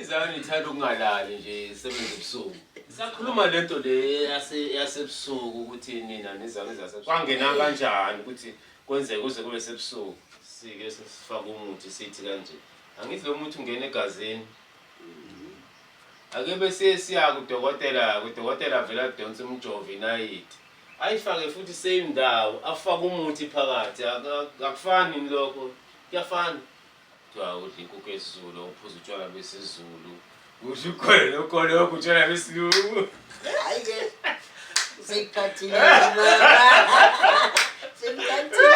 Izani ithanda ukungalali nje isebenza ebusuku. Sakhuluma lento le yase yasebusuku ukuthi nina nizame zase. Kwangena kanjani ukuthi kwenzeke kuze kube sebusuku. Sike sifaka umuthi sithi kanje. Angithi lo muthi ungena egazini. Ake bese siya kudokotela, kudokotela vela donsa umjovo inayiti. Ayifake futhi same ndawo, afake umuthi phakathi. Akufani lokho. Kuyafana. Kuthiwa udla inkukhu yesiZulu, uphuza utshwala besiZulu, udla ukhole lokoloko utshwala besilungu. Hayi-ke seyikhathile seyikhathile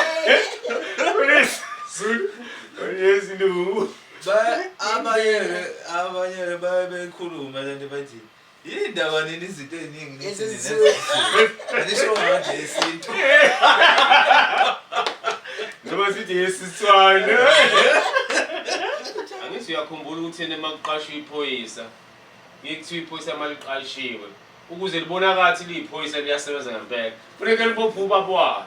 Yindaba nini izinto eziningi nithi Ezi nina zisuke- zisuke. Anisho manje yesintu. Noma sithi yesiswane. Angithi uyakhumbula ukuthi yena makuqashwa iphoyisa ngeke kuthiwa iphoyisa maliqashiwe ukuze libonakala ukuthi liyiphoyisa liyasebenza ngempela. Funeke libophe ubaba walo.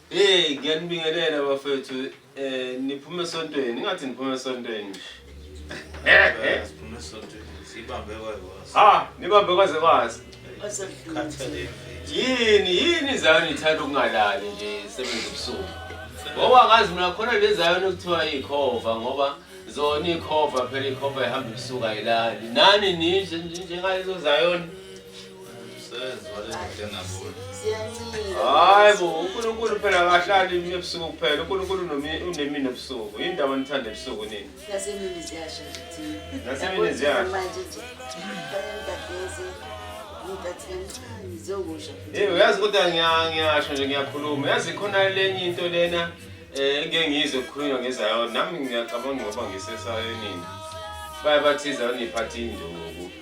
Hey ngiyanibingelela bafethu eh niphume esontweni ingathi niphume esontweni. Eh siphume esontweni sibambe kwazi. Ha nibambe kwaze kwazi. Khathaleni. Yini yini zayo nithanda ukungalali nje sebenza ubusuku. Ngoba ngazi mina khona lezayo nokuthiwa ikhova ngoba zona ikhova phela ikhova ihamba ubusuku ayilali. Nani ninje njengalezo zayoni. hayi bo unkulunkulu phela akahlali imini ebusuku kuphela unkulunkulu unemini ebusuku yini ndaba nithanda ebusuku nini nasemini ziyasha nasemini ziyasha Hey uyazi kodwa ngiyasho nje ngiyakhuluma yazi khona lenye into lena eh ngeke ngizwe kukhulunywa ngezayona nami ngiyacabanga ngoba ngisesayonini baye bathiza uniphatha induku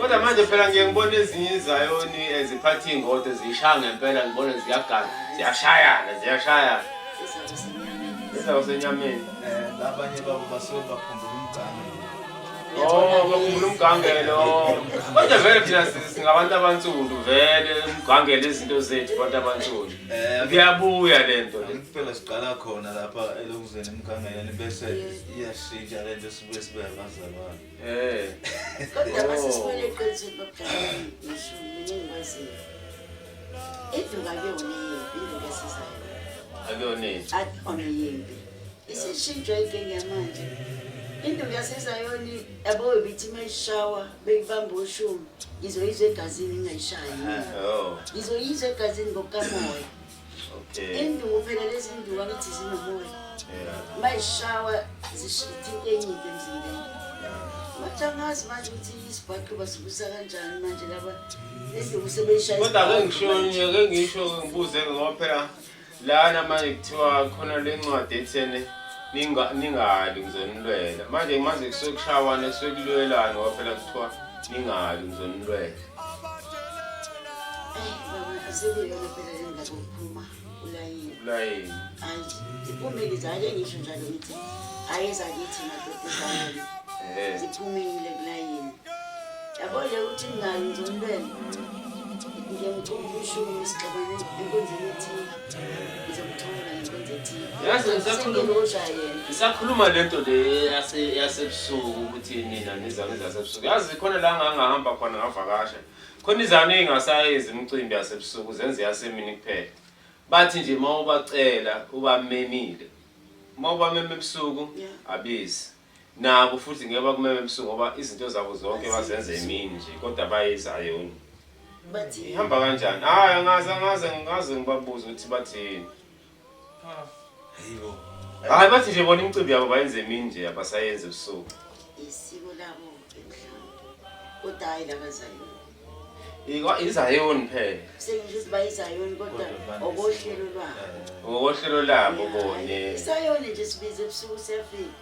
kodwa manje phela ngiye ngibona ezinye izayoni eziphatha eh, iy'ngodo ziyishaya ngempela ngibone ziyagana ziyashayana ziyashayana izaba senyameni um abanye babo basuke bakhumbula umgama Oh, bakhumbula umgangelo. Kodwa vele thina singabantu abansundu vele umgangelo izinto zethu abantu abansundu. Eh, Kuyabuya lento. Impela siqala khona lapha elokuzeni emgangeleni bese iyashintsha lento sibuye sibe abazalwane. Eh. Kodwa Oh. masisiphele eqinisweni lokuqala ngisho mina engimaziyo. Indlu kakuyona yimbi, indlu kesizayo. Akuyona into. Akuyona yimbi. isishintshwe inkinga yamanje induku yasezayoni yabo ibithi uma ishawa beyibamba oshumi ngizoyizwa egazini ingayishayi oh. ngizoyizwa egazini ngokukamoya induku phela lezi nduku angithi zinomoya uma ishawa zishitha into enyinto emzimbeni wathi angazi manje ukuthi isibhaqi basukusa kanjani manje laba enduku sebeyishayakodwa ke ngisho ke ngisho ngibuze ngoba phela lana manje kuthiwa khona le ncwadi ethene ningali ngizonilwela manje manje kusuke kushawana kusuke kulwelani ngoba phela kuthiwa ningali ngizonilwela ulayini ziphumile zake ngisho njalo ngithi ayezakithi madoda ziphume yabo nje ukuthi mngani ngizomlwela ngiyamcuma ushumi isixabane enkonzeni ethile ngizomthola ngenkonzo ethile yazi ngisakhulumosha yena ngisakhuluma le nto le yasebusuku ukuthi nina nizame zasebusuku yazi khona la ngangahamba khona ngavakasha khona izane ey'ngasayenzi imicimbi yasebusuku zenze yasemini kuphela bathi nje uma ubacela ubamemile uma ubameme ebusuku abezi Nabo futhi ngeke bakumeme ebusuku ngoba izinto zabo zonke bazenza emini nje kodwa bayizayoni. Bathini? Ihamba kanjani? Hayi angazi angazi angazi ngibabuza ukuthi bathini. Hayibo. Hayi bathi nje bona imicimbi yabo bayenze emini nje abasayenzi ebusuku. Isiko labo mhlawumbe. Kodwa hayi labazayoni. Ikwa izayoni phela. Sengisho ukuthi bayizayoni kodwa okohlelo lwabo. Ngokohlelo labo bone. Isayoni nje sibize ebusuku siyafika.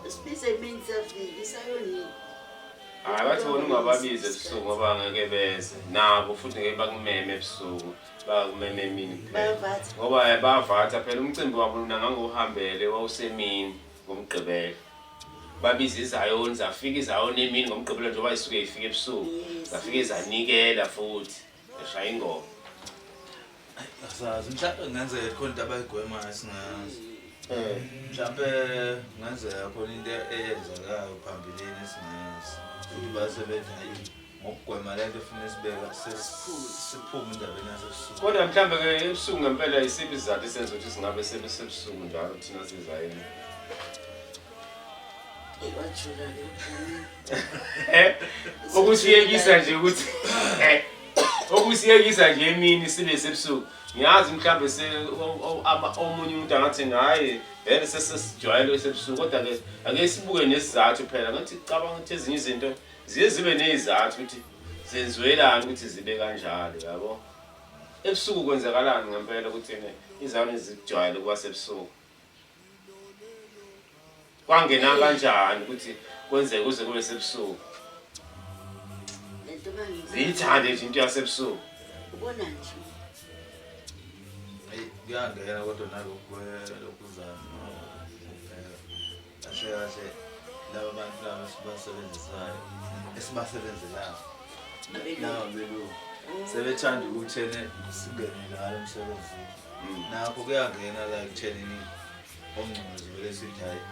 Sibize emini siyafika isayoni. Hayi bathi bona ungababize ebusuku ngoba ngeke beze. Nabo futhi ngeke bakumeme ebusuku. Bakumeme emini kuphela. Bayavatha. Ngoba eh, bayavatha phela umcimbi wabo lona ngangohambele wawusemini ngomgqibelo. babiza izayoni zafika izayoni emini ngomgqibelo njengoba isuke ifika ebusuku zafike zanikela futhi zashaya ingoma asazi mhlawumbe kungenzeka khona into abayigwemayo singazi eh. mhlawumbe kungenzeka khona into eyenzekayo phambilini esingazi futhi basebenza yini ngokugwema lento efuna isibeka siphume indabeni yasebusuku kodwa mhlawumbe ke ebusuku ngempela isiphi isizathu esenza ukuthi singabe sebesebusuku njalo thina sizayini okusiyekisa nje ukuthi okusiyekisa nje emini sibe sebusuku ngiyazi mhlawumbe omunye umuntu angathi ngaye vele sesesijwayele sebusuku kodwa-ke ake sibuke nesizathu phela ngathi cabanga ukuthi ezinye izinto ziye zibe nezizathu ukuthi zenziwelani ukuthi zibe kanjalo yabo ebusuku kwenzakalani ngempela ukuthi ne izane zikujwayele ukuba sebusuku kwangena kanjani ukuthi kwenzeke kuze kube sebusuku ziyithande nje into yasebusuku ubona nje kuyangena kodwa nalokhu lokuzana Cishe kahle laba bantu laba sibasebenzisayo esibasebenzelayo nawo belungu sebethanda ukuthi ene singene ngalo msebenzi nakho kuyangena la ekuthenini ongcongqozi vele sithi hhayi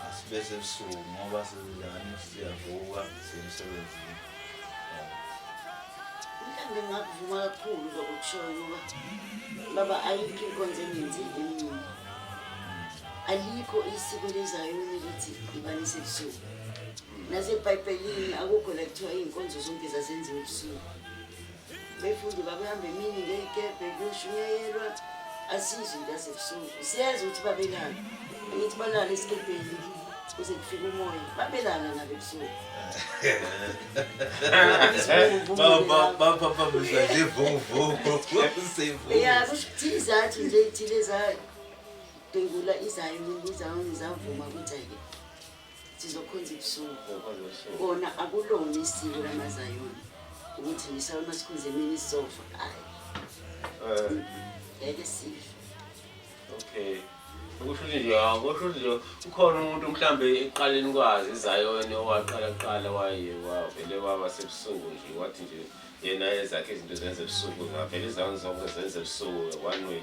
asibese ebusuku ngoba sizidlani siyavuka semsebenzini mhlawumbe ngingakuvuma kakhulu lokukushoyo ngoba baba ayikho inkonzo engenzile emncane alikho isiko lezayoni ukuthi ibanise ebusuku nasebhayibhelini akukho la kuthiwa iy'nkonzo zonke zazenziwa ebusuku befundi bakuhamba emini ngey'kebhe kuyoshunyayelwa asizwe into yasebusuku siyeza ukuthi babelana angithi balala esikebheni kuze kufike umoya babelana nabo ebusuku baphaphamiswa nje vuvuvu ya kusho ukuthi izathu nje iy'thile zayo Dengula izayo ngiza ngizavuma ukuthi-ke sizokhonza ibusuku kona akulona isiko lamazayoni ukuthi ngisala uma sikhonza emini sizofa hayi eh. ngeke sife okay ukusho ukuthi nje akusho ukuthi nje ukhona umuntu mhlambe eqaleni kwazi izayoni owaqala kuqala waye wavele waba sebusuku nje wathi nje yena ezakhe izinto zenza ebusuku ngavele izayoni zonke zenza ebusuku one way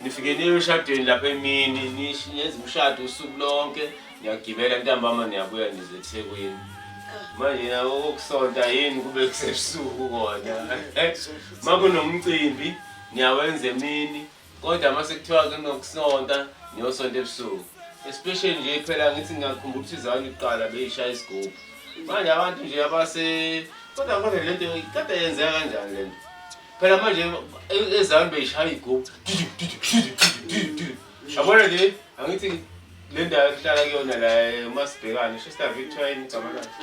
Nifike niye eshadweni lapha emini nishiyenza umshado usuku lonke niyagibela ntambama niyabuya nize eThekwini. Manje na okusonta yini kube kusebusuku kona. Makunomcimbi niyawenza emini kodwa uma sekuthiwa kunokusonta niyosonta ebusuku. Especially nje phela ngithi ngiyakhumbula ukuthi izani kuqala beyishaya isigubhu. Manje abantu nje abase kodwa kodwa lento kade yenzeka kanjani lento? phela manje e- ezami beyishaya igubhu yabona nje angithi le ndawo ehlala kuyona la eh, umasibhekane shista victoria yini igama lakhe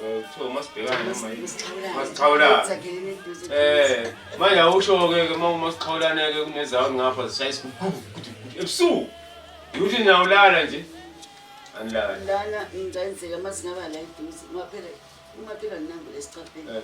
Eh, kuthiwa umasibhekane noma yini masixhawulana Eh, manje awusho-ke ke uma umasixhawulane-ke kunezawo ngapha zishaya isigubhu ebusuku ukuthi niyawulala nje anilala lana ngicenzeka uma singaba la eduze ungaphela ungaphela nginambu lesicabheni Eh.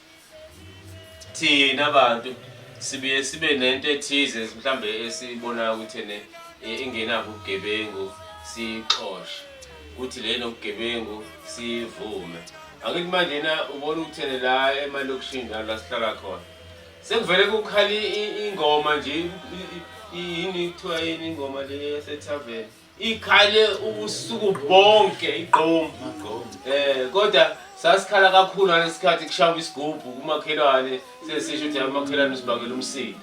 thina bantu sibuye sibe nento ethize mhlambe esibonayo ukuthi ene ingenabo ubugebengu siyixoshe kuthi le nobugebengu siyivume angithi manje na ubona ukuthi ene la emalokishini la la sihlala khona sekuvele kukhali ingoma nje yini kuthiwa yini ingoma le yasethaveni ikhale ubusuku bonke igqomu eh kodwa sasikhala kakhulu ngalesikhathi kushaya isigubhu kumakhelwane sesisho ukuthi amakhelwane usibangela umsika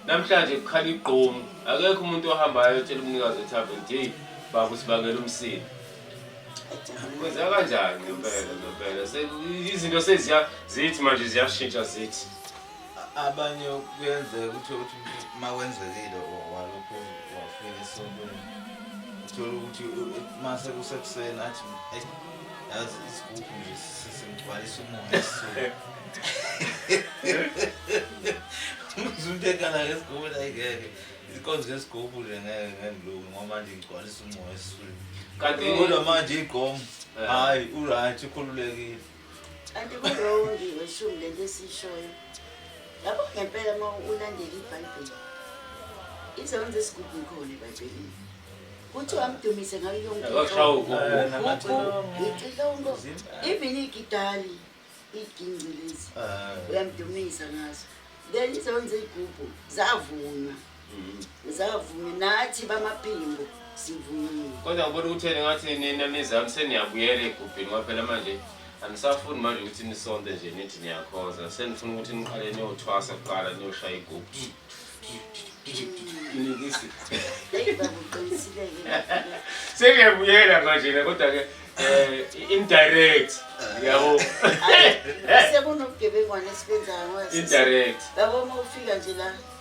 namhlanje kukhala igqomu akekho umuntu ohambayo otshela umnikazi wethaveni nje baba usibangela umsika kwenzeka kanjani ngempela ngempela izinto seziya zithi manje ziyashintsha zithi abanye kuyenzeka ukuthi ukuthi uma wenzekile walokhu wafika esontweni uthole ukuthi uma sekusekuseni athi yazi isigubhu nje sesingigcwalisa umoya esisuke umzuntu ekhala ngesigubhu nayingeke ikonzo yesigubhu nje ngeke ngengilungi ngoba manje ngigcwalisa umoya esisuke kanti kodwa manje igqomo eh. hhayi uright ukhululekile Kanti kurongi weshumi lento esiyishoyo. Yabo ngempela uma ulandela iBhayibheli. Izonzo esigubhu ikhona eBhayibhelini. Kuthiwa amdumise ngayo yonke into. Ngicilongo. Even igitali igingci lezi. Uyamdumisa ngazo. Then izonzo izigubhu zavunywa. Zavume nathi bamaphimbo sivuyile. Kodwa ngibona ukuthi yena ngathi nina nizami seniyabuyela egubhini ngoba phela manje anisafuni manje ukuthi nisonte nje nithi niyakhoza senifuna ukuthi niqale niyothwasa kuqala niyoshaya igubhu inikisi Eyi baba uqinisile-ke lapho. sengiyabuyela manje na kodwa-ke um indirect yabo Ayi, Sekunobugebengwana esibenzayo ngoba sisi- indirect Baba uma ufika nje la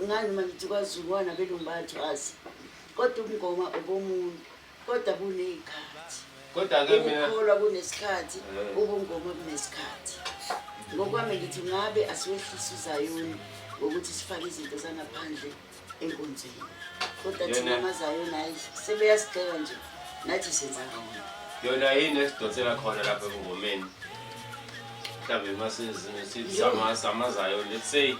Ungani uma ngithi kwaZulu wanabelungu bayathwasa kodwa ubungoma obomuntu kodwa buney'khathi kodwa-ke mina ukukholwa kunesikhathi Eh. ubungoma kunesikhathi ngokwami ngithi ngabe asiwehlisi uzayoni ngokuthi sifake izinto zangaphandle enkonzweni kodwa thina Yena- amazayoni hayi sebeyasigxeka nje nathi senza kona yona yini esidonsela khona lapha ebungomeni mhlawumbe masizamazayo let's say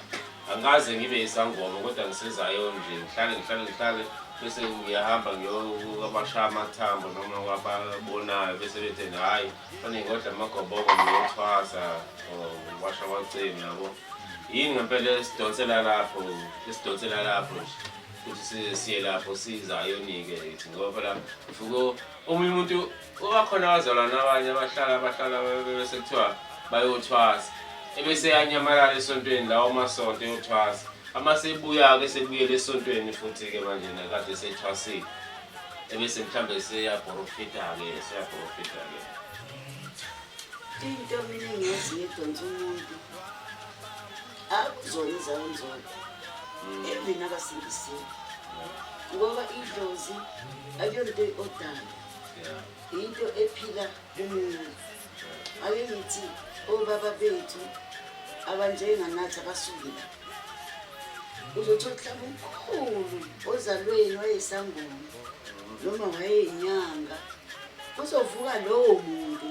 Angikaze ngibe isangoma kodwa ngisezayo nje ngihlale ngihlale ngihlale bese ngiyahamba ngiyokwabasha amathambo noma kwababonayo bese bethe hhayi fanele ngodla amagoboko ngiyothwasa or ngiwasha amacemi yabo yini ngempela esidonsela lapho esidonsela lapho nje ukuthi siye lapho sizayonike yithi ngoba phela ufuke omunye umuntu Kuba khona abazalwane abanye abahlala abahlala bese kuthiwa bayothwasa ebese yanyamalala esontweni lawo masonto yothwasa ama sebuya-ke sebuyele esontweni futhi-ke manje nakade sethwasile ebese mhlawumbe seyabhorofida-ke seyabhorofida-ke into mina engiyazi ngedonsa umuntu akuzona izawonzona mm. even abasindisiwe ngoba idlozi akuyonto odala yinto ephila kumina ake ngithi obaba bethu abanjenganathi abasuke la uzothi mhlawumbe umkhulu ozalweni wayesangoma noma wayeyinyanga kuzovuka lowo muntu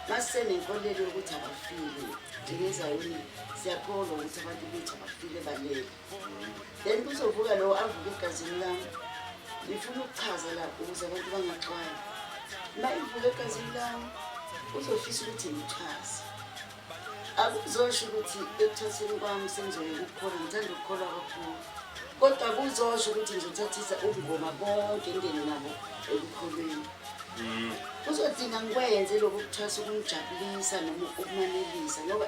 masenenkolelo yokuthi abafile njengezayoni siyakholwa ukuthi abantu bethu abafile balele then kuzovuka lowo avuke egazini lami ngifuna ukuchaza la ukuze abantu bangaxwayi uma ivuka egazini lami uzofisa ukuthi ngichaze akuzosho ukuthi ekuthatheni kwami sengizoye kukhona ngithanda ukukholwa kakhulu kodwa kuzosho ukuthi ngizothathisa ubungoma bonke ngene nabo ekukholweni mm. kuzodinga ngikwenze lokhu kuthwasa ukumjabulisa noma ukumanelisa ngoba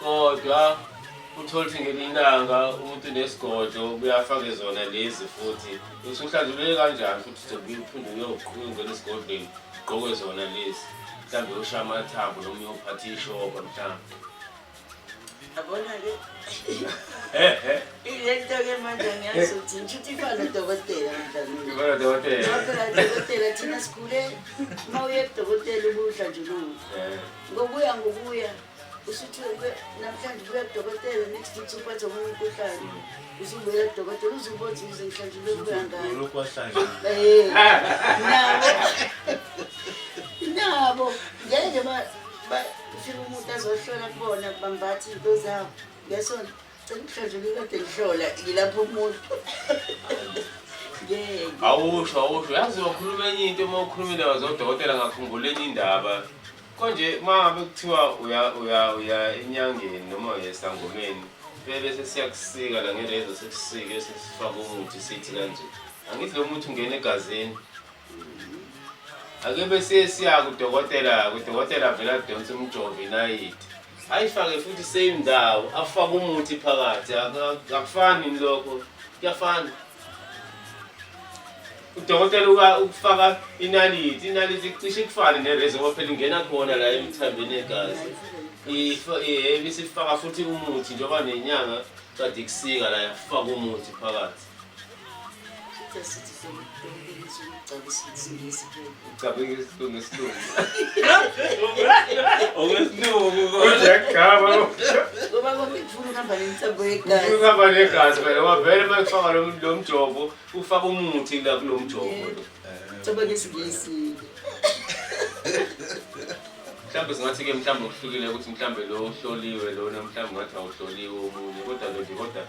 kodwa uthole ukuthi ngelinye ilanga umuntu unesigodlo kuyafake zona lezi futhi usuhlanzulele kanjani futhi uzobuye uphinde uyoqhuba ungena esigodlweni ugqoke zona lezi mhlawumbe uyoshaya amathambo noma uyophatha ishoba mhlawumbe yabona-ke ilento-ke manje angiyazi ukuthi ngishuthi ifana udokotela mdlaudokotela thina sigule uma uye kudokotela ubudla nje lula ngokuya ngokuya usuthi namhlanje ubuya kudokotela next week usuphatha omunye umkhuhlane usubuya kudokotela uzubothi uze mhlanje ubebuya ngayo nabo nabo ngeke ufika umuntu azohlola kubona bambathi into zabo ngesonto cela mhlanje ngikade ngihlola ngilapha umuntu awusho awusho yazi wakhuluma enye into uma ukhulumile wazodokotela ngakhumbula enye indaba Konje uma ngabe kuthiwa uya uya uya enyangeni noma uya esangomeni bebe sesiyakusika la ngelezo sekusike sesifaka umuthi sithi kanje angithi lo muthi ungena egazini ake bese siya kudokotela kudokotela vele adonse umjovo inayiti ayifake futhi same ndawo afake umuthi phakathi akufani lokho kuyafana udokotela ukufaka inaliti inaliti cishe kufane nereza ngoba phela ingena khona la emthambeni yegazi ibisifaka futhi umuthi njengoba nenyanga kade kusika la yafaka umuthi phakathi Cabanga isilungu isilungu. Okwesilungu kodwa kugaba. Ngoba kwakufuna uhamba nentambo yegazi. Uhamba negazi phela wavele uma kufaka lo lo mjovo ufaka umuthi la kulo mjovo lo. Cabanga isingisi. Mhlawumbe singathi ke mhlawumbe okuhlukile ukuthi mhlawumbe lo ohloliwe lona mhlawumbe ngathi awuhloliwe omunye kodwa lo nje kodwa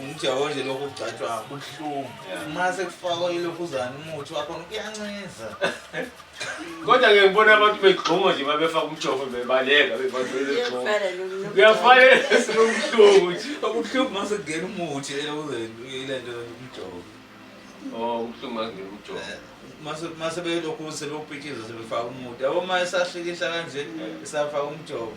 umjaho nje lokhu kugcatshwa kubuhlungu uma sekufakwa ilokhuzana umuthi wakhona kuyanciza kodwa ke ngibona abantu begxuma nje uma befaka umjovo bebaleka kuyafanele sinobuhlungu nje obuhlungu uma sekungena umuthi ile nto umjovo o oh, ubuhlungu uma kungena umjovo eh, uma sebelokhu sebewupitshiza sebefaka umuthi yabo uma esahlikihla kanje esafaka umjovo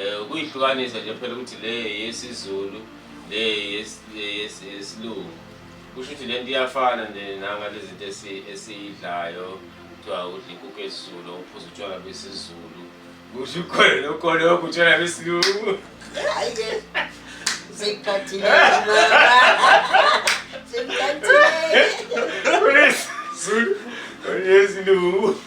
Eh ukuyihlukanisa nje phela ukuthi le yesiZulu le yesilungu. Kusho ukuthi lento iyafana nje nanga lezinto esiyidlayo kuthiwa udla inkukhu yesiZulu uphuza utshwala besiZulu. Kusho ukhona nokhona okutshwala besilungu. Hayi ke. Sikhathile. Sikhathile. Yes. Yes, no.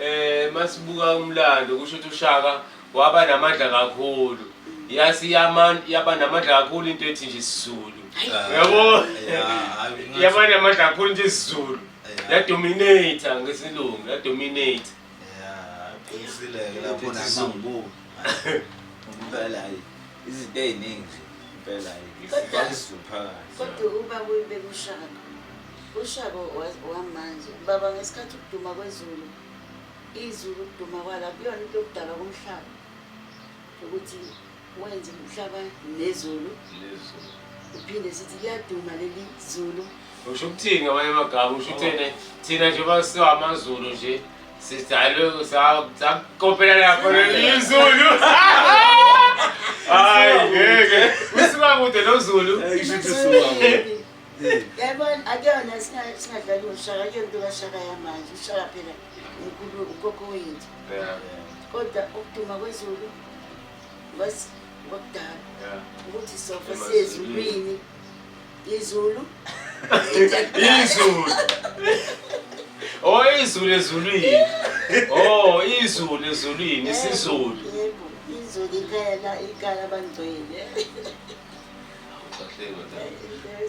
Eh masibuka umlando kusho ukuthi uShaka waba namandla kakhulu. Yasi yaman yaba namandla kakhulu into ethi nje isiZulu. Yabo? Yaba namandla kakhulu nje isiZulu. Ya dominate ngesilungu, ya dominate. Yeah, qinisile ke lapho nangibuka. Impela hayi. Izinto eziningi nje. Impela hayi. Kodwa uba kuyibe kushaka. Ushabo wamanje baba ngesikhathi ukuduma kwezulu izulu ukuduma kwala kuyona into yokudalwa komhlaba ukuthi wenze umhlaba nezulu uphinde sithi kuyaduma leli zulu usho ukuthini amanye amagama usho uthene thina nje basiwa amazulu nje sidalwe sakopela lapho lelizulu hayi ngeke usuka kude lozulu yayibona akuyona singadlali ngoshaka akuyona into kashaka yamanje ushaka phela unkulu ukoko wethu kodwa ukuduma kwezulu basi kwakudala ukuthi sofa siyezulwini izulu izulu oh izulu ezulwini oh izulu ezulwini isizulu izulu ikala ikala bangcwele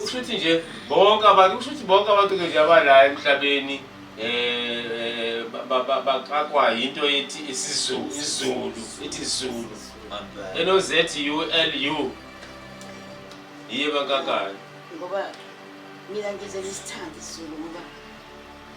kusho ukuthi nje bonke abantu kusho ukuthi bonke abantu-ke nje abala emhlabeni um baqakwa yinto ethi isizulu izulu ithi zulu enoz u l u yiye bankakani ngoba mina ngizele isithandi zulu ngoba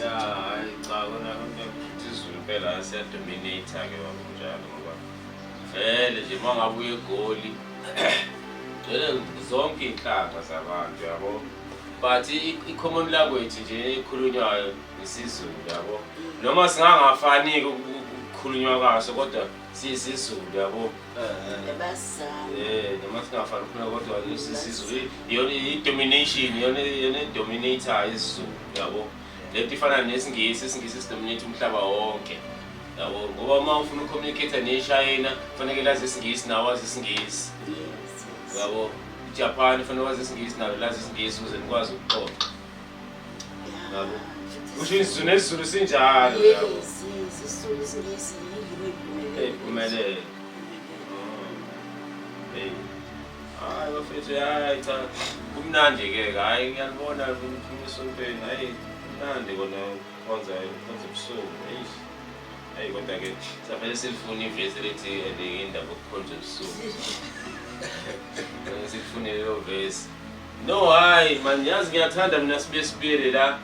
ya hayi cha kona konke ukuthi izulu impela siyadominate ke wakunjalo ngoba vele nje uma ngabe uye egoli gcwele zonke iy'nhlanga zabantu yabo but i- i-common language nje ekhulunywayo isizulu yabo noma singangafaniki ukukhulunywa kwaso kodwa siyisizulu yabo eh, noma singafani ufuna kodwa sisizulu iyona i-domination iyona iyona i-dominator isizulu yabo le nto ifana nesingisi isingisi sidominate umhlaba wonke yabo ngoba uma ufuna ucommunicate neshayina kufaneke lazi isingisi nawo wazi isingisi yabo ijapan kufanele wazi isingisi nalo lazi isingisi ukuze nikwazi ukuxoxa Yabo. Kusho isiZulu nesiZulu sinjalo yabo. Yes, yes, isizulu isingisi yilimi eliphumelele. Eyiphumelele. Hey. Hayi bafethu hayi cha kumnandi ke hayi ngiyalibona kumphuma esontweni hayi kumnandi kona konza konza ubusuku hey hey kodwa ke safanele silifune ivesi elithi eliyinda kokukhonza ubusuku Safanele silifune leyo vesi No hayi man yazi ngiyathanda mina sibe sibili la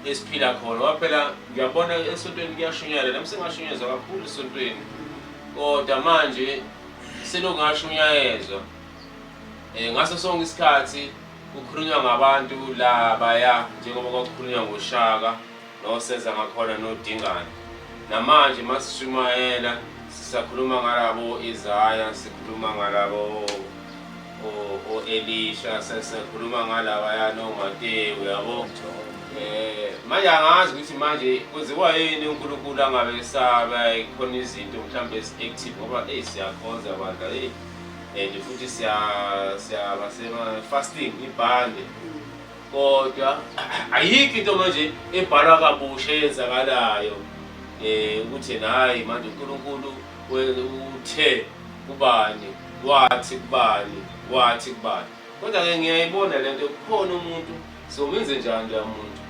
esiphila khona waphela ngiyabona esontweni kuyashunyayela nami sengashunyezwa kakhulu esontweni kodwa manje selongashunyayezwa um eh, ngaso sonke isikhathi kukhulunywa ngabantu la baya njengoba kwakukhulunywa ngoshaka Noseza ngakhona nodingana. Namanje masishumayela sisakhuluma ngalabo Isaya, sikhuluma ngalabo o-Elisha, sikhuluma ngalawa yana oMatewu yabo. Eh manje angazi ukuthi manje kwenziwa yini uNkulunkulu angabe esaba khona izinto mhlawumbe ezi-active ngoba eyi siyakhonza bandla eyi and futhi siyaba sema-fasting ibhande kodwa ayikho into manje ebhalwa kabusha eyenzakalayo um ukuthi nayi manje unkulunkulu uthe kubani wathi kubani wathi kubani kodwa-ke ngiyayibona le nto kukhona umuntu somenze njani loya muntu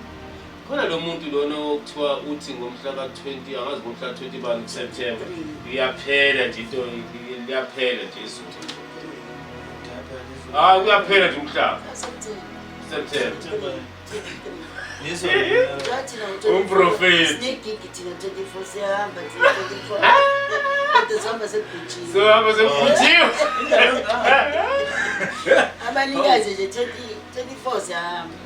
Khona lo muntu lona okuthiwa uthi ngomhla ka-20 angazi ngomhla ka-20 bani kuSeptember iyaphela nje into liyaphela nje izulu. Hayi ah, kuyaphela nje umhlaba. September. Umprofeti. Sohamba sekugujile. Abanikazi nje 24 siyahamba.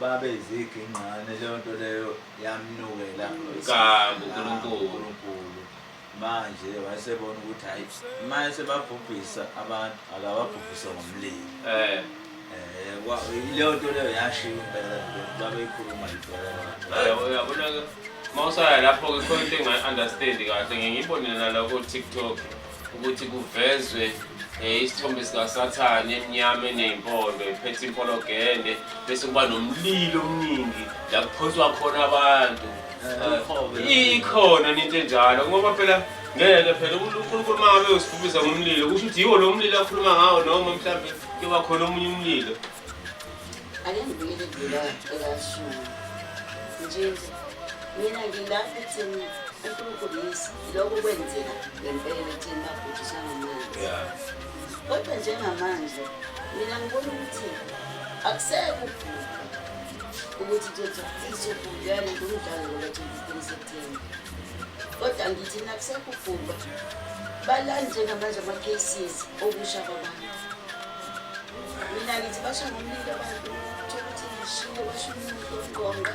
babe izigingqane leyo nto leyo yamnukela kabi uNkulunkulu manje wayesebona ukuthi hayi manje sebabhubhisa abantu akababhubhise ngomlilo eh eh leyo nto leyo yashiya impela babeyikhuluma impela uyabona-ke uma usaya lapho-ke khona into engayi-understandi kahle ngiyibonile naloko tiktok ukuthi kuvezwe um isithombe sikasathane emnyama eney'mpondo ephethe impologende bese kuba nomlilo omningi la kuphonswa khona abantu eh, ikhona ninto enjalo ngoba phela ngeke phela unkulunkulu uma ngabe usifubisa ngomlilo kusho ukuthi yiwo lo mlilo akhuluma ngawo noma mhlawumbe kuyoba khona omunye umlilo ake ngibuyele kula ekashuni nje mina ngilapha ekutheni unkulunkulu yisi Lokhu kwenzeka ngempela ekutheni babhujisana manje. Yeah. Kodwa njengamanje mina ngibona ukuthi akusekho ukuthi kuzothi ufise ukubuyana ngomdlalo ngoba twenty-three September. Kodwa ngithi nakusekho ubhubha balani njengamanje ama-cases okusha kwabantu. Mina ngithi basha ngomlilo abantu thokuthi ngishiye basho umuntu oqonqa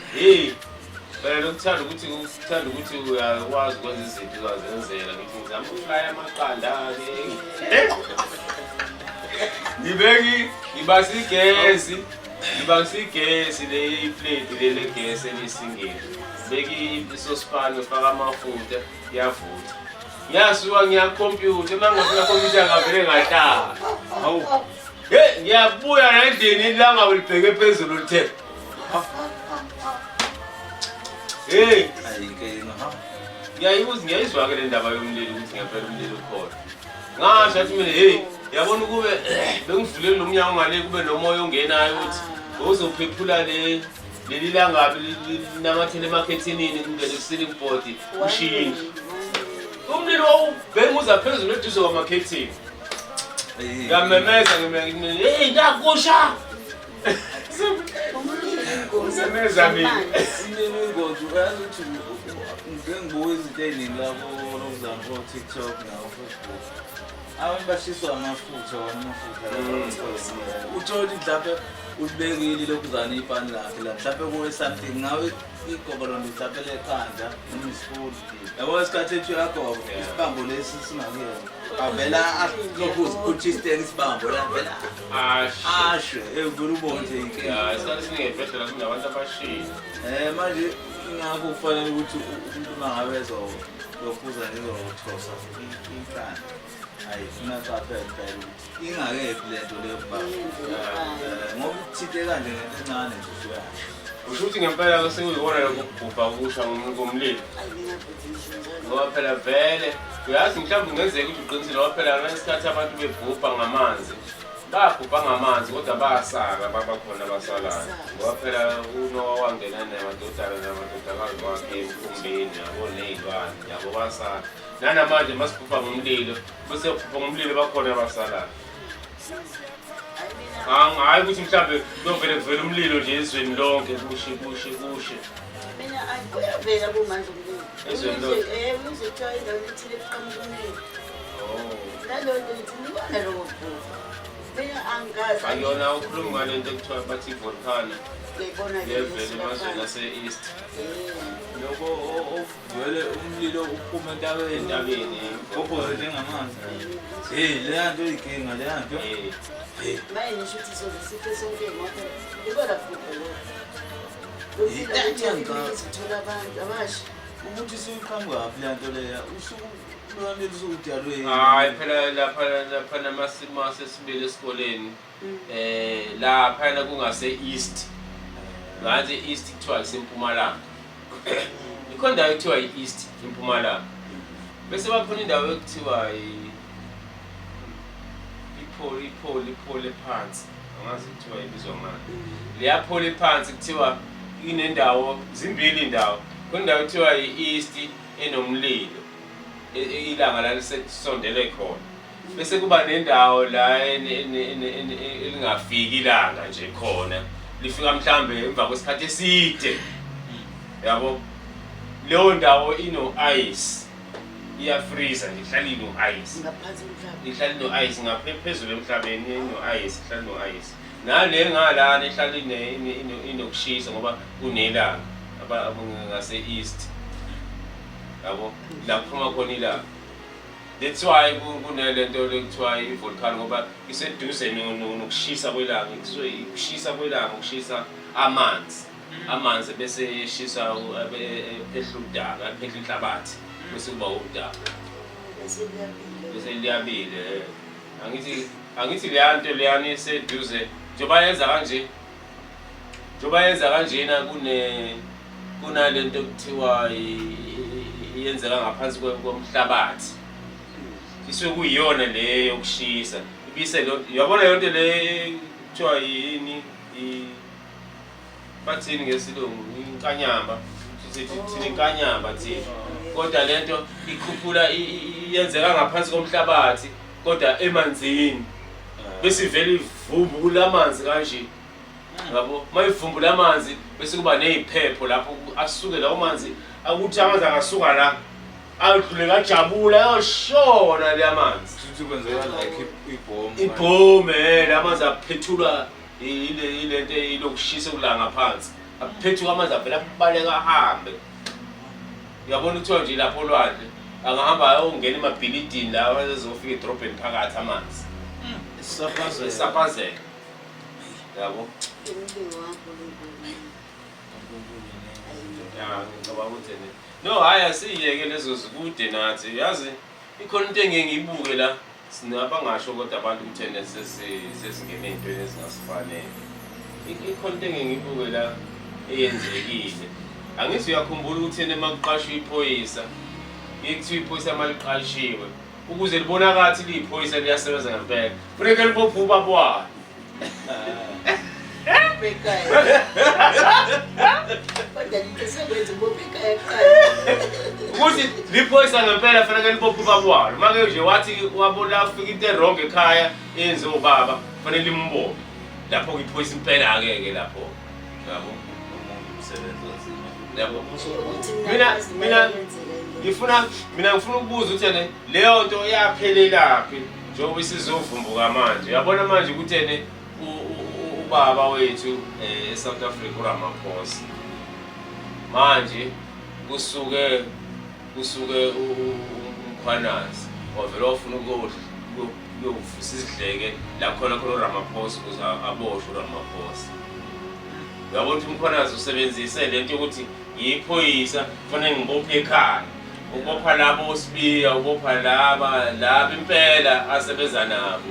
Hey, phela ukuthanda ukuthi ukuthanda ukuthi uyakwazi ukwenza izinto uzazenzela ngithi ngizama ukuflaya amaqanda ngibeki ngibasa igesi ngibasa igesi le iplate le legesi elisingeni beki isosipani ufaka amafutha yavutha ngiyasuka ngiyakhompyutha uma ngafuna khompyutha ngavele ngatala hawu hey ngiyabuya nendini ilanga ulibheke phezulu lithe Hey, ayinkinga ha. Ngiyayibuzwa ngiyayizwa ke le ndaba yomlilo ukuthi ngempela umlilo ukhona. Ngasho athi mina hey, yabona ukube bengivulele lo mnyango ngale kube nomoya ongenayo ukuthi uzophephula le leli langabi linamathele emakhethinini kungene ku-ceiling board ushintshe umlilo wawubhenguza phezulu eduze kwamakhethini ngamemeza ngimeeyi ntakusha abantu bashiswa amafutha amafutha mm. uthole mhlawumbe ulibekile lokuzana ipani lakhe la mhlawumbe kuwe something ngawe Igobolo ndithathele ekhanda umfundi. Yabo isikhathi ethu yagobo isibambo lesi singakuyena. Avela lokhu uziphutha isiteki isibambo la vela. Ashe. Ashe evula ubone nje inkinga. Ya isikhathi siningi ebhedlela kunabantu abashiya. Eh manje ingakho kufanele ukuthi umuntu mangabe ezokhuza nezokuthosa inkani. Hayi funa qaphela impela ukuthi ingakephi le nto leyo baba. Eh, Ngoba uthinte kanje ngento encane nje usuya. Usho ukuthi ngempela ke sekuyikona lokho kubhubha kusha ngomu- ngomlilo ngoba phela vele uyazi mhlawumbe kungenzeka ukuthi uqinisile ngoba phela ngesikhathi abantu bebhubha ngamanzi babhubha ngamanzi kodwa basala baba khona abasalayo ngoba phela unowa wangena namadodana namadodakazi wakhe emfumbeni yabo ney'lwane yabo basala nanamanje masiphupha ngomlilo bese phupha ngomlilo bakhona abasalayo hhayi ukuthi mhlawumbe kuyovele kuvele umlilo nje ezweni lonke kushe kushe kushe kuyavela kumanje umlilo ezweni lonke eh, umlilo kuthiwa indawo ethile kuqhamuka umlilo naleyo oh. nto ngithi ngibona lowo bhuka mina angazi ayona ukhuluma ngale nto ekuthiwa bathi volcano levele emazweni ase-east eh. loko Vele umlilo uphuma entabeni. Entabeni. Kophoze njengamanzi. Hey, leya nto iyikinga leya nto. Hey. Hey. Naye ngisho ukuthi soze sife sonke ngoba ibona futhi lo. Uthola abantu abasha. Ukuthi siqhamuka phi leya nto leya? Usuku lwami lusukudalwe. Hayi phela lapha lapha namasimo asesibili esikoleni. Mm. Eh la phana kungase east. Ngathi east kuthiwa isempumalanga. Ikhona indawo ekuthiwa i-east impumalanga. Bese bakhona indawo ekuthiwa ipholi ipholi ipholi phansi. Angazi kuthiwa ibizwa ngani. Mm. Liyapholi phansi kuthiwa inendawo zimbili indawo. Khona indawo ekuthiwa i-east enomlilo. E, e, ilanga lalisekusondele khona. bese kuba nendawo la elingafiki ilanga nje khona lifika mhlambe emva kwesikhathi eside yabo leyo ndawo ino ice iyafreeza nje ihlala ino ice ngaphansi komhlaba ihlala ino ice ngaphezulu emhlabeni ino ice ihlala ino ice nale ngalana ihlala ine inokushisa ngoba kunelanga abangase east yabo la kuphuma khona ilanga That's why kunelento ekuthiwa i-volcano ngoba iseduze nokushisa kwelanga kusuke ikushisa kwelanga ukushisa amanzi mm. amanzi bese eshisa ephehla udaka ephehla inhlabathi mm. bese kuba udaka bese liyabile angithi angithi leya nto leyana iseduze njengoba yenza kanje njengoba yenza kanjena kune kunale nto kuthiwa yenzeka ngaphansi komhlabathi isuke kuyiyona le yokushisa ibise yabona yonke le kuthiwa yini bathini ngesilungu inkanyamba sithi thina inkanyamba thina kodwa le nto ikhuphula yenzeka ngaphansi komhlabathi kodwa emanzini ah. bese ivele ivumbula amanzi kanje yabo uma ivumbula amanzi bese kuba neyiphepho lapho asuke lawo manzi akuthi amanzi angasuka la adlule kajabula ayoshona le amanzi ibhomu eh, la amanzi aphethulwa ilento ilokushisa ukulanga phansi aphethuka amanzi avele abaleka ahambe Uyabona kuthiwa nje lapho olwandle angahamba ayongena emabhilidini lawa ezofika edrobheni phakathi amanzi Isaphaze. esaphazeka yabo Umcingo kaNkulunkulu. Ya, ngicabanga ukuthi ne no hhayi asiyeke lezo zikude nathi yazi ikhona into engeke ngiyibuke la Sina bangasho kodwa abantu ukuthi ene sesingene ey'ntweni ezingasifanele. Ikhona into engeke ngibuke la eyenzekile. Angithi uyakhumbula ukuthi ena uma kuqashwa iphoyisa, kuye kuthiwa iphoyisa uma liqashiwe, ukuze libonakala ukuthi liyiphoyisa liyasebenza ngempela, funeke libophe ubaba walo. ukuthi liphoyisa ngempela faneke libophe ubaba walo uma ke nje wathi wabona ufika into erong ekhaya enze ubaba fanele limbophe lapho ngiphoyisa impela-ke ke lapho yabo yabo mina mina ngifuna mina ngifuna ukubuza ukuthi ene leyo nto yaphelelaphi njengoba isizovumbuka manje yabona manje ukuthi ene ubaba wethu eh, e-south africa uramaphosa manje kusuke kusuke umkhwanazi wavele wafuna ukuyovusa izidleke la khona khona uramaphosa ukuze aboshwe uramaphosa uyabona ukuthi umkhwanazi usebenzise le nto yokuthi Ngiyiphoyisa kufanele ngibophe ekhaya. Ubopha labo osibiya, ubopha laba, laba impela asebenza nabo.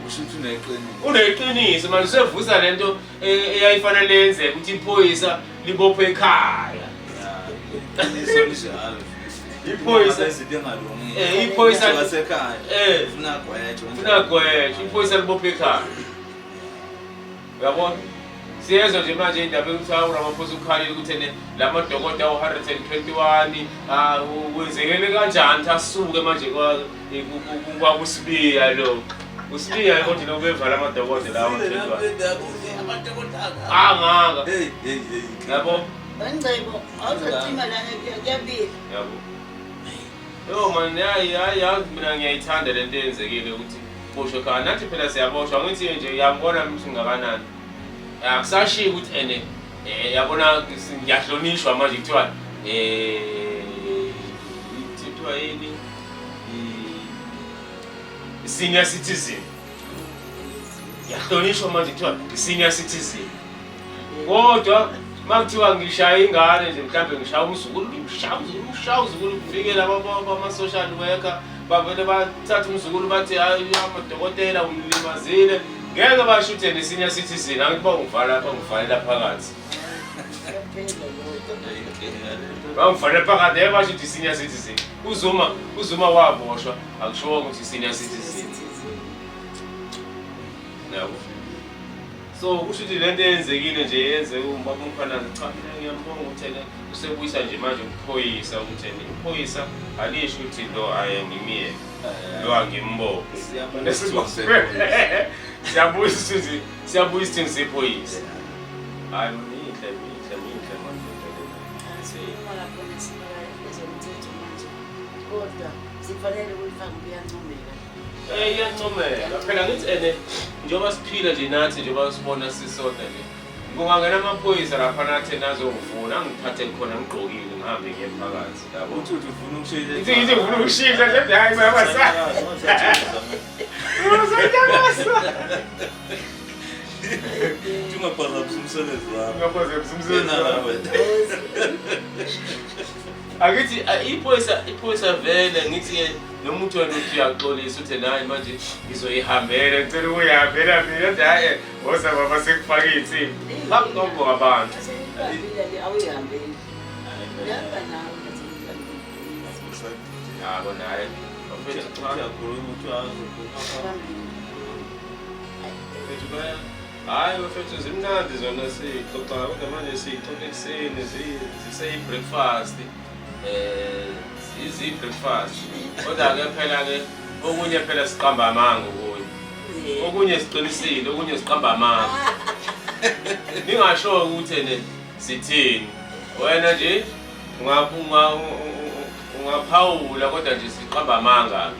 Usho ukuthi uneqiniso. Uneqiniso manje usevusa lento e- eyayifanele yenzeke ukuthi iphoyisa libophe ekhaya. Iqiniso linjalo. Iphoyisa- Izinto engalungile. Eh, iphoyisa- Umuntu wasekhaya. Eh. Ufuna gwetshe. Funa gwetshe, iphoyisa libophe ekhaya. uyabona siyezwa nje manje indaba yokuthi hawu ramaphosa ukhalile ukuthi ene la madokoda awu-121 ah, kwenzekele kanjani ukuthi asuke manje kwakusibiya lo usibiya konje lo bevala amadokoda lawo angaka yabo Ngicebo, awuzothima lana kuyabila. yabo Yo man, yayi yayi yazi mina ngiyayithanda le nto eyenzekile ukuthi boshwe khaya. Nathi phela siyaboshwa ngithi nje uyambona ukuthi ngakanani. Akusashiyi ukuthi ene eh yabona ngiyahlonishwa manje kuthiwa eh kuthiwa yini? I- Senior citizen. yahlonishwa manje kuthiwa i-senior citizen kodwa uma kuthiwa ngishaya ingane nje mhlawumbe ngishaya umzukulu ngimshaya umzukulu ngishaya umzukulu kufikela ama-social worker bavele bathatha umzukulu bathi hayi amadokotela umlimazile ngeke basho uthena i-senior citizen angithi bangivala bangivalela phakathi bangivalela phakathi yeke basho ukuthi i-senior citizen uzuma uzuma waboshwa akushiwo ukuthi i-senior citizen Yabo. So kusho ukuthi lento eyenzekile nje yenze ubaba umkhwanazi cha mina ngiyambonga ukuthi ena usebuyisa nje manje ukuphoyisa ukuthi ena iphoyisa alisho ukuthi lo aye ngimyeke lo angimbophe. Siyabona isithunzi sephoyisa. Siyabuyisa isithunzi siyabuyisa isithunzi sephoyisa. Hayi minhle minhle minhle manje into lena. Asikhuluma khona sibala ezomthetho manje kodwa sifanele ukuyifaka kuyancomeka Eh iyancomeka. Phela ngithi ene njengoba siphila nje nathi njengoba sibona sisodwa nje. Kungangena amaphoyisa lapha nathi nazongifuna angiphathe khona ngigqokile ngihambe ngiye phakathi. Yabo. Uthi uthi ufuna ukushayela. Ithi ithi ufuna ukushisa nje hayi baba sa. Ungaphazamusa umsebenzi wakho. Ungaphazamusa umsebenzi wakho. Angithi iphoyisa iphoyisa vele ngithi noma uthi wena uthi uyaxolisa uthe nayi manje ngizoyihambela ngicela ukuyihambela mina uthi hayi woza baba sekufaka iy'nsimbi bakunombo abantu yabo naye uyakhuluma uthi azokhuluma Hayi bafethu zimnandi zona sixoxa kodwa manje sixoxa ekuseni ziseyi-breakfast eh zizi-breakfast kodwa-ke phela-ke okunye phela siqamba amanga okunye okunye siqinisile okunye siqamba amanga ningasho-ke ukuthi ene sithini wena nje ungaphawula kodwa nje siqamba amanga-ke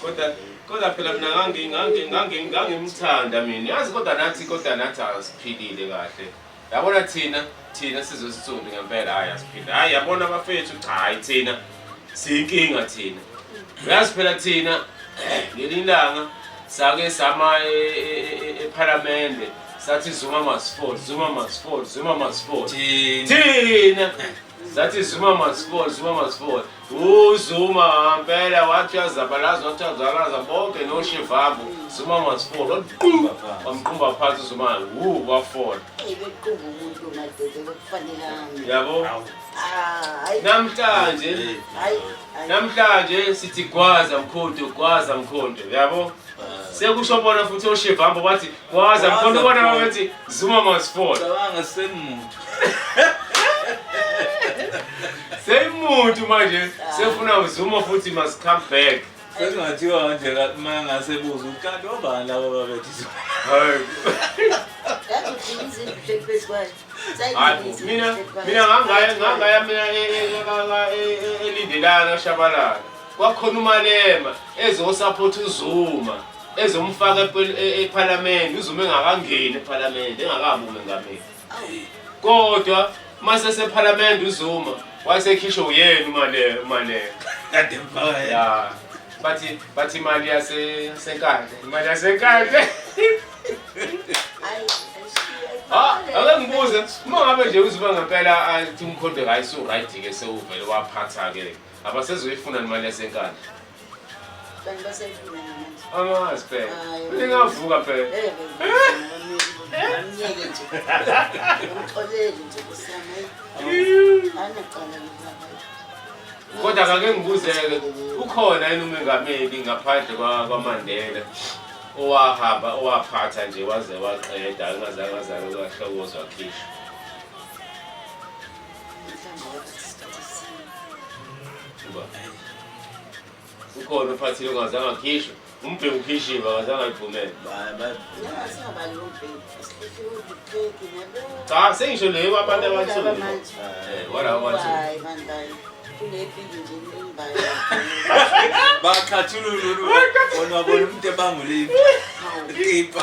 kodwa kodwa phela mina ngangi ngangi ngangi ngangimthanda mina yazi kodwa nathi kodwa nathi asiphilile kahle yabona thina thina sizosithuli ngempela hayi asiphilile hayi yabona abafethu cha hayi thina siyinkinga thina uyazi phela thina ngelinye ilanga sake sama e, e, e, ephalamende sathi zuma masifol zuma masifol zuma masifol thina sathi zuma masifol zuma masifol uzuma ngempela wathi uyazabalaza wathi uyazalaza bonke noshivambu zuma mazifona waqumba wamqumba phansi uzuma wu wafola yabo ah, namhlanje namhlanje sithi gwaza mkhonto gwaza mkhonto yabo sekusho bona futhi oshivambo bathi waza ngikhona ubona babethi zuma masifona cabanga semuntu semuntu manje sefuna uzuma futhi must come back sekungathiwa nje uma ngasebuza ukati obani laba babethi mina ngangaya mina elindelayo kashabalala Kwakhona uMalema ezosaphotha uZuma ezomfaka e-, ephalamende uZuma engakangeni ephalamende engakabi umengameli kodwa mase sephalamende uZuma wasekhishwa uyena uMalema uMalema kade mfaka ya bathi bathi imali yase senkandla imali yasenkandla Ah, ake ngibuze uma ngabe nje uziba ngempela athi umkhonto kayi so right ke sewuvele waphatha ke Abasezoyifuna imali yasenkandla. Abantu basayifuna namanje. Angazi phela. Hayi. Ningavuka phela. Eh, Amnyeke nje. Umxoleli nje kusama. Anecala lobaba. Kodwa kake ngibuzeke ukhona yini umengameli ngaphandle kwa- kwaMandela owahamba owaphatha nje waze waqeda angazange azange kwahlokozwa khishwa. ukhona uphathile ungazange akhishwe umbheki ukhishiwe akazange ayivumele cha sengisho leyo kwabantu abansundu eh, walaba bansundu bakhathulululu bona wabona umuntu ebanguliphi tipa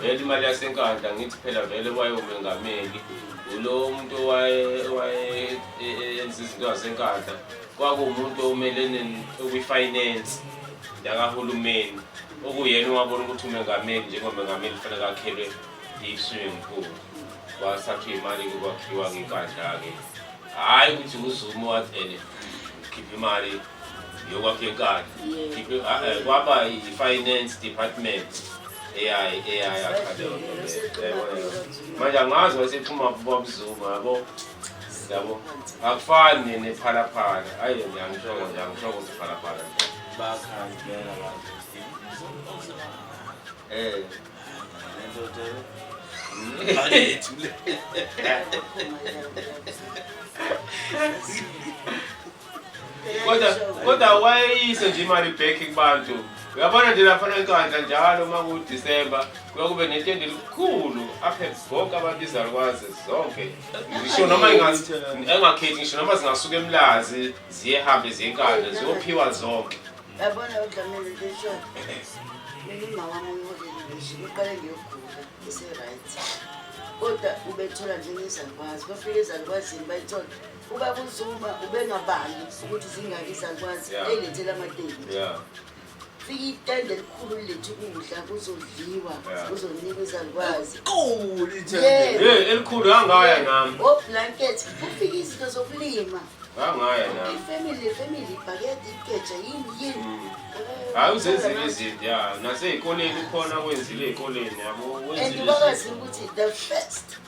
vele imali yasenkandla ngithi phela vele wayomengameli ulo muntu owayenza izinto zasenkandla kwakuwumuntu omelene okwi-finance yakahulumeni okuyena owabona ukuthi umengameli njengomengameli kufanele akhelwe i-swimming pool kwasakhe imali kwakhiwa ngenkandla-ke hhayi ukuthi uzumo wathi ene khipha imali yokwakhekana ah, eh, kwaba i-finance department eyayi eyayi manje angazi wasephuma babuzuma yabo yabo akufani nephalaphala ayi ngiyangishoko nje angishoko ukuthi phalaphala bakhandela lapho eh ndoda Hadi kodwa kodwa wayeyise nje imali back kubantu uyabona nje laphana enkandla njalo uma kudisemba kuyokube netende elikhulu aphe bonke abantu izalukwazi zonke ngisho noma engakhethi ngisho noma zingasuka emlazi ziyehambe ziyenkandla ziyophiwa zonke yabona udlamile lisho ngiqale ngiyogula ise-right kodwa ubethola njengezalukwazi bafike ezalukwazi bayithola Ubaba uZuma ubengabali ukuthi zingaki zakwazi elethela amateki. Fika itende elikhulu lithi ukudla kuzodliwa kuzonikwa izalukwazi. Qulu itende. Hey elikhulu hangaya nami. O blanket kufika izinto zokulima. Hangaya nami. Ifamily family ibhakede ikeja yini yini. Mm. Hayi uzenzile izinto ya nasey'koleni ukhona kwenzile ey'koleni yabo. And ubakazi ukuthi the first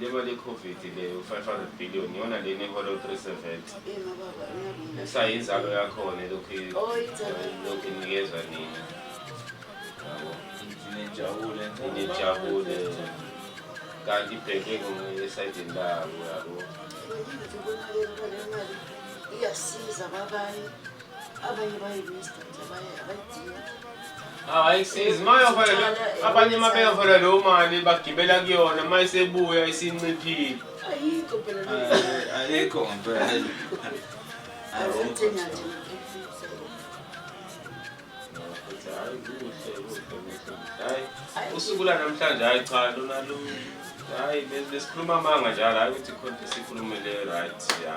Le mali yeCovid le u-500 billion iyona lena ehola u-370 kusayinzalo yakhona elokhu lokhu inikezwa nina yabo nijabule nijabule kanti ibheke esayidini labo yabo iyasiza kwabanye abanye bayibista nje abanye abayidingi awayisizi uma yoholela abanye uma beyoholela leyo mali bagibela kuyona uma isebuya isinciphile ayikho phela Eh, ayikho ngempela azithenga nje Hayi, usuku lanamhlanje hayi cha lona lu hayi besikhuluma amanga njalo hayi ukuthi khona sikhulume le right ya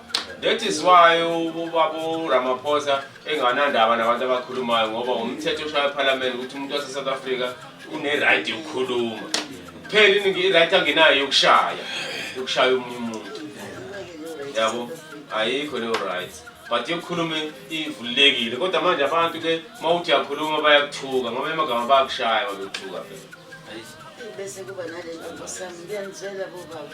That is why ubaba uRamaphosa enganandaba nabantu abakhulumayo ngoba umthetho oshaya eParliament ukuthi umuntu wase South Africa une right yokukhuluma. Phela iningi right angenayo yokushaya. Yokushaya umuntu umuntu. Yabo ayikho leyo right. But yokukhuluma ivulekile kodwa manje abantu ke mawuthi yakhuluma bayakuthuka ngoba emagama bayakushaya babethuka phela. Bese kuba nalento sami ngiyenzela bobaba.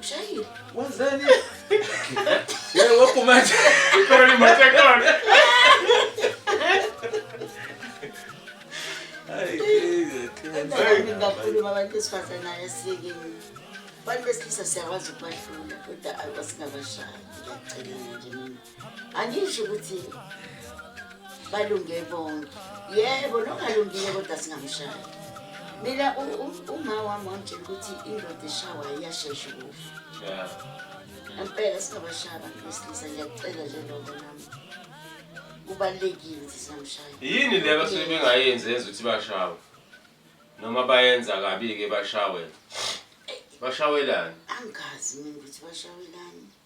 Ushayile. Wenzeni? Yebo waphuma nje. Phela ni manje khona. Hayi. Hayi ngakhuluma abantu besifazane ayasiyekeni. Abantu besilisa siyakwazi ukubahlula kodwa asingabahlali. Ngiyacela nje mina. angisho ukuthi balunge bonke yebo nongalungile kodwa singamshaya mina uma wami wangitshela ukuthi indoda eshawa iyashesha ukufa impela singabashaya bantu besilisa ngiyacela nje loko nami kubalulekile ukuthi singamshaya yini le basuke bengayenzi yenza ukuthi bashawe noma bayenza kabi-ke bashawe bashawelani angazi mina ukuthi bashawelani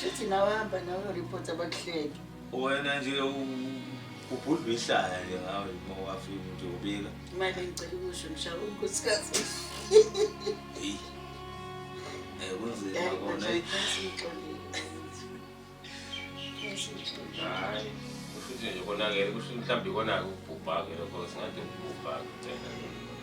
Shuthi nawe hamba nawe uyoripota abakuhleke. Wena nje ubhudlwa ihlaya nje ngawe uma wafika nje ubika. Imali ngicela ukusho ngishaya unkosikazi. Hey. Eh kunzima kona. Hayi. Kushuthi nje konakele kusho mhlawumbe konake ubhubhake lokho singathi ubhubhake.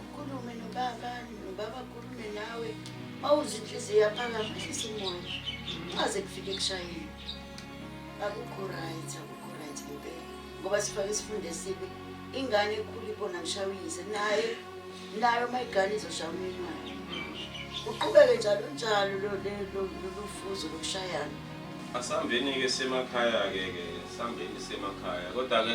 Ukhulume nobaba, nobaba akhulume nawe. Mawuze inhliziyo yaphakama ehlisa umoya. Ungaze kufike kushayile. Akukho right, akukho right ngempela. Ngoba sifake isifundo esibi. Ingane ekhula ibona ngishaya uyise naye nayo uma igane izoshaya umyeni wayo. Uqhubeke njalo njalo lo le- lo- lolu fuzo lokushayana. Asambeni-ke semakhaya-ke ke sambeni semakhaya kodwa-ke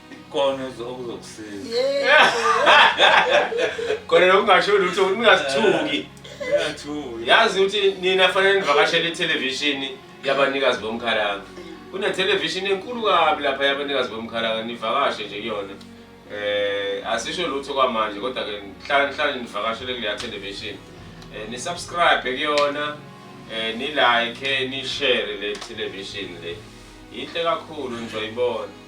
Kona okuzokusiza. Kona nokungasho lutho ningazithuki. Niyathuki. Yazi ukuthi nina fanele nivakashele ithelevishini yabanikazi bomkhalanga. Kunethelevishini enkulu kabi lapha yabanikazi bomkhalanga nivakashe nje kuyona. Eh asisho lutho kwamanje kodwa ke nhlala nhlala nivakashele kuleya television. Eh ni subscribe kuyona. Eh ni like, ni share le television le. Yinhle kakhulu ngizoyibona.